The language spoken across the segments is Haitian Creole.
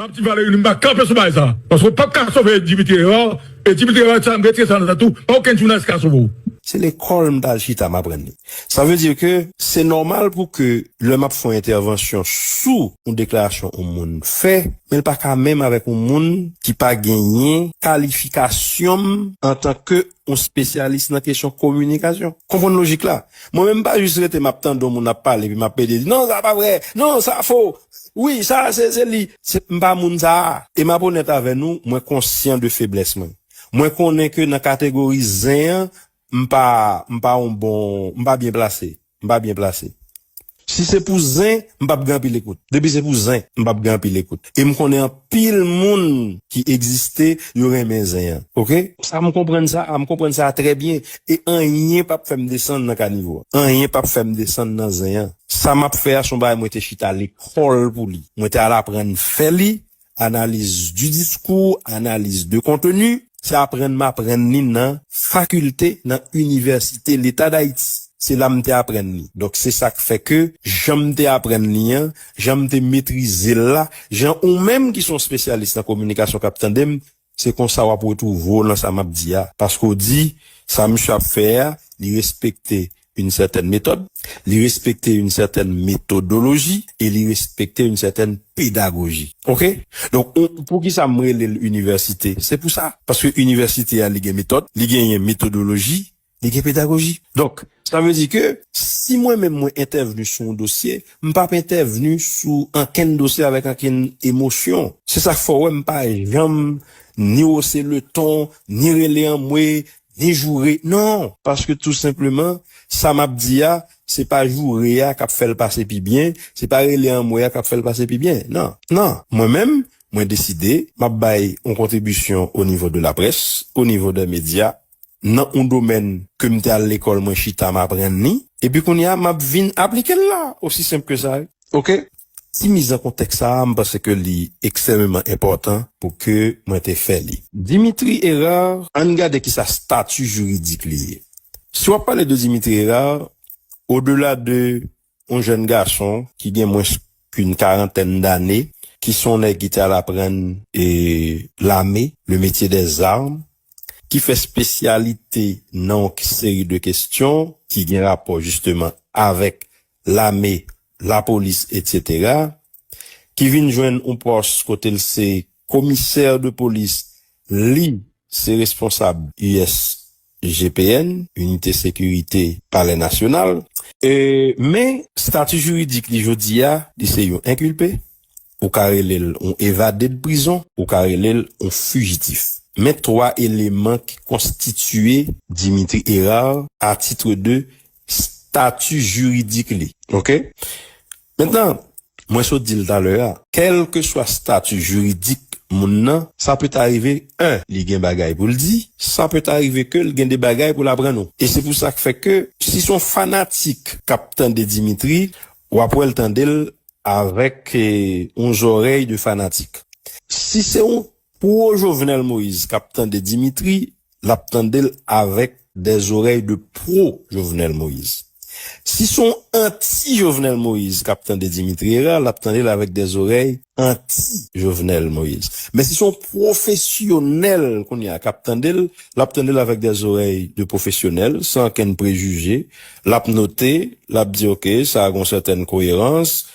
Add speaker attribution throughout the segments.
Speaker 1: Abdi Valery li m pa kanpe sou bagay sa paske ou pap ka sove Dimitri Herard e Dimitri Herard sa m retire sa nan tèt ou pa okenn jounalis ka sove w. Se lekòl m
Speaker 2: t al chita m aprann li. Sa vle di ke se nòmal pou ke lè m ap fè yon entèvansyon sou yon deklarasyon yon moun fè, men l pa ka menm avèk yon moun ki pa genyen kalifikasyon m antan ke yon spesyalis nan kesyon kominikasyon. Konprann lojik la. Mwen menm m pa jis rete m ap tande yon moun ap pale epi m ap pede di, non sa pa vre, non sa fo. Wi sa se se li. Se m pa moun sa a. E m ap onèt avè nou, mwen konsyan de feblès mwen. Mwen konnen ke nan kategori zen an, m pa, m pa yon bon, m pa byen plase. M pa byen plase. Si se pou zen, m p ap gen anpil ekout. Depi se pou zen, m p ap gen anpil ekout. E m konnen. Anpil moun ki egziste yo renmen zen an ok. Sa m konprann sa a m konprann sa a trè byen e anyen pap fèm desann nan kanivo a anyen pap fèm desann nan zen an sa map fè a son bagay mwen te chita lekòl pou li mwen te al aprann fè li analiz di diskou analiz de konteni se aprann m aprann li nan fakilte nan inivèsite leta dayiti se la m te aprann li donk se sak fè ke jan m te aprann li an jan m te metrize l la, jan ou menm ki s on spesyalis nan kominikasyon k ap tande m, se konsa w ap retwouve w nan sa m ap di a. Paske w di, sa misye ap fè a, li respekte yn sètèn metòd, li respekte yn sètèn metodoloji e li respekte yn sètèn pedagoji. Ok? Donk, poukisa m rele l inivèsite? Se pou sa. Paske inivèsite a li gen metòd, li genyen metodoloji, Li gen pedagoji. Donk, sa vle di ke si mwen menm mwen entèvni sou yon dosye, m pa p entèvni sou ankenn dosye avèk ankenn emosyon. Se sa k fè w wè m pa janm ni wose le ton, ni rele anmwe, ni joure. Non! Paske tou senpleman, sa m ap di a, se pa joure a k ap fè l pase pi byen, se pa rele anmwe a k ap fè l pase pi byen. Non! Non! Mwen menm, mwen deside, m ap bay yon kontribisyon onivo de laprès, onivo dè medya, nan yon domèn ke m te al lekòl mwen chita m aprann li, epi kounye a m ap vin aplike l la, osi senp ke sa wi. Ok, ti miz an kontèks sa a m panse ke li eksememan enpòtan pou ke mwen te fè li. Dimitri Herard, an n gade ki sa stati jiridik li ye. Si w ap pale de Dimitri Herard, odela de Yon jèn gason ki gen mwens k'yn karantèn dane, ki son nèg ki te al aprann lame, le métier des armes, ki fè spesyalite nan yon seri de kestyon ki gen rapò jisteman avèk lame, lapolis etc. Ki vin jwenn yon pòs kote l se komisè de polis, li se responsab us GPN, Inite Sekirite Palè Nasyonal. Men, stati jiridik li jodi a, li se yon enkilpe, ou ka rele l yon evade de prizon, ou ka rele l yon fijitif. Men 3 eleman ki konstitiye Dimitri Herard a titre de stati jiridik li. Ok. Mentnan, mwen sot di l talè a, kèlkeswa stati jiridik moun nan, sa peta rive 1 li gen bagay pou l di, sa peta rive ke l gen de bagay pou l aprann ou. E se pou sa k fè ke si s on fanatik k ap tande Dimitri, w ap wè l tande l avèk on zòrèy de fanatik. Si se on Pou ou Jovenel Moïse kap tande Dimitri lap tandel avèk dè zorèy de pro Jovenel Moïse. Si son anti Jovenel Moïse kap tande Dimitri Herard lap tandel avèk dè zorèy anti Jovenel Moïse. Men si son profesyonèl kounye a kap tandel lap tandel avèk dè zorèy de profesyonèl san ankenn prejije lap note lap di ok sa gon sètèn koyerans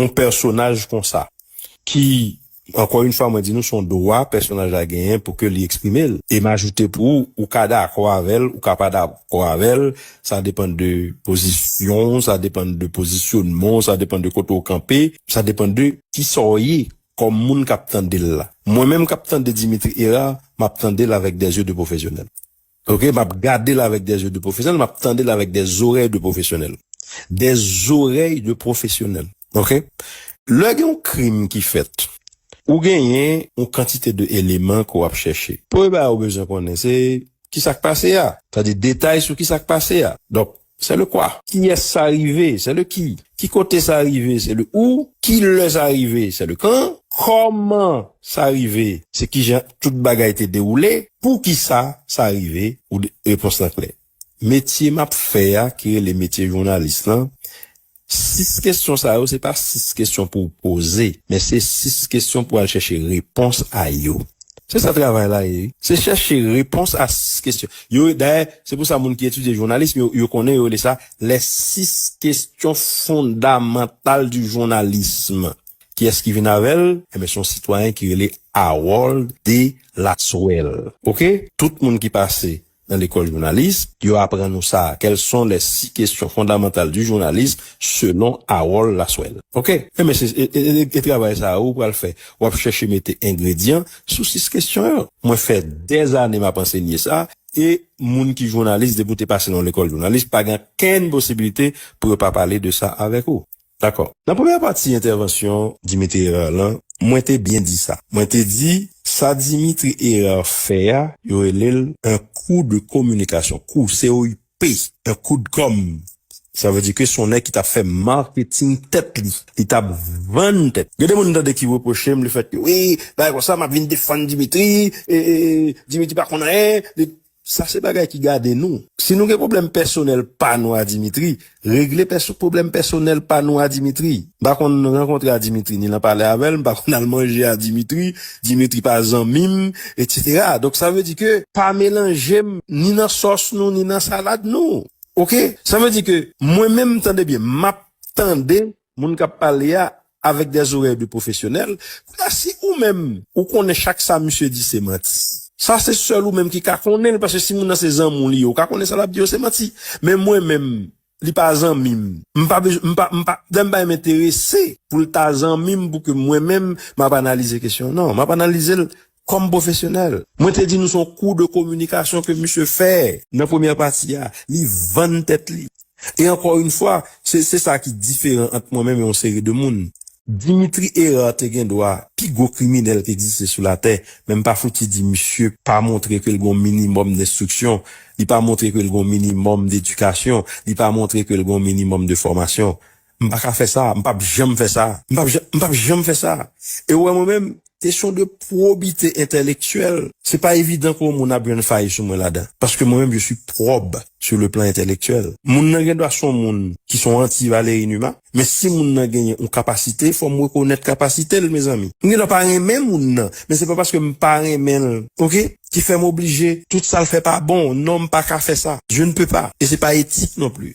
Speaker 2: yon pèsonaj konsa ki ankò yon fwa mwen di nou se yon dwa pèsonaj la genyen pou ke li eksprime l. E m ajoute pou ou, ou ka dakò avè l, ou ka pa dakò avè l, sa depann de pozisyon w, sa depann de pozisyonman w, sa depann de kote w kanpe, sa depann de kisa w ye kòm moun k ap tande l la. Mwen menm k ap tande Dimitri Hérard, m ap tande l avèk dè zye de pwofesyonèl. Ok map gadel avek des yeux de profesyonel map tandel avek des oreilles de profesyonel des oreilles de profesyonel ok lè gen yon krim ki fèt ou genyen yon kantite de eleman ke wap chèche premye bagay ou bezwen konnen se kisak pase a sa vle di detay sou kisak pase a donk C'est le quoi? Kiyès sa rive? C'est le qui? Ki kote sa rive? C'est le où? Ki lè sa rive? C'est le quand? Kòman sa rive? Se kijan tout bagay te dewoule? Poukisa sa rive? Ou de, repons lan klè. Metye m ap fè a ki rele metye jounalis lan, Sis kesyon sa yo se pa sis kesyon pou w poze, men se sis kesyon pou w al chèche repons a yo. Se sa travay la ye wi. Se chèche repons a sis kesyon yo. Dayè, se pou sa moun ki etidye jounalism yo, yo konnen, yo rele sa lè sis kesyon fondamantal di jounalism. Kiyès ki vin avè l? Enben, se yon sitwayen ki rele Harold Delaswel. Oke, tout moun ki pase Nan lekòl jounalis, yo aprann ou sa a, Quelles sont les six questions fondamentales du journalisme selon Harold Lasswell? Ok, enben se e travay sa a ou pral fè. W ap chèche mete engredyan sou sis kesyon yo. Mwen fè dèzane m ap ansenye sa, e moun ki jounalis, depi ou te pase nan yon lekòl jounalis, pa gen okenn posibilite pou yo pa pale de sa avèk ou. Dakò. Nan premyè pati entèvansyon Dimitri Herard lan, mwen te byen di sa. Mwen te di, sa Dimitri Herard fè a, yo rele l un coup de communication, kou, COUP, un coup de com. Sa vle di ke son nèg ki t ap fè marketing tèt li. Li t ap vann tèt li. Gen de moun m tande ki repwoche m le fèt ke wi, bagay konsa, m ap vin defann Dimitri, e, e, Dimitri pa konn anyen, li. Sa se bagay ki gade nou. Si nou gen pwoblèm pèsonèl pa nou a Dimitri, regle pwoblèm pèsonèl pa nou a Dimitri. M pa konn rankontre a Dimitri, ni lan pale avè l, m pa konn al manje a Dimitri, Dimitri pa zanmi m, etsetera. Donk sa vle di ke. Pa melanje m ni nan sòs nou, ni nan salad nou. Ok? Sa vle di ke mwen menm, tande byen, m ap tande Moun kap pale a avek des oreilles de professionnel, kounye a si ou menm ou konnen chak sa misye di se manti, sa se sèl ou menm ki ka konnen l paske si moun nan se zanmi w li ye ou ka konnen sa lap di yo se manti, men mwen menm li pa zanmi m, m pa bezwen m pa m pa dan m pa enterese pou l ta zanmi m pou ke mwen menm map analize kesyon nan, map analize l Kòm pwofesyonèl, mwen te di nou son kou de kominikasyon ke misye fè. Nan premyè pati a, li vann tèt li. E ankò yn fwa, se se sa ki diferan ant mwen menm e yon seri de moun. Dimitri Herard te gen dwa pi gwo kriminèl ki egziste sou latè, men m pa fouti di misye pa montre ke l gen yon minimòm denstriksyon, li pa montre ke l gen yon minimòm dedikasyon, li pa montre ke l gen yon minimòm de fòmasyon. M pa ka fè sa, m pap janm fè sa, m pap janm, m pap janm fè sa. E ou wè mwen menm, kesyon de pwobite entèlektyèl, se pa evidan ke yon moun ap jwenn fay sou mwen ladan. Paske mwen menm je suis probe sur le plan intellectuel. Moun nan gen dwa se yon moun ki se yon anti Valéry Numa, men si moun nan genyen yon kapasite, fò m rekonèt kapasite l mezanmi. M gen dwa pa renmen moun nan, men se pa paske m pa renmen l, ok, ki fè m oblije tout sa l fè pa bon. Non, m pa ka fè sa. Je ne peux pas. E se pa etik non pli.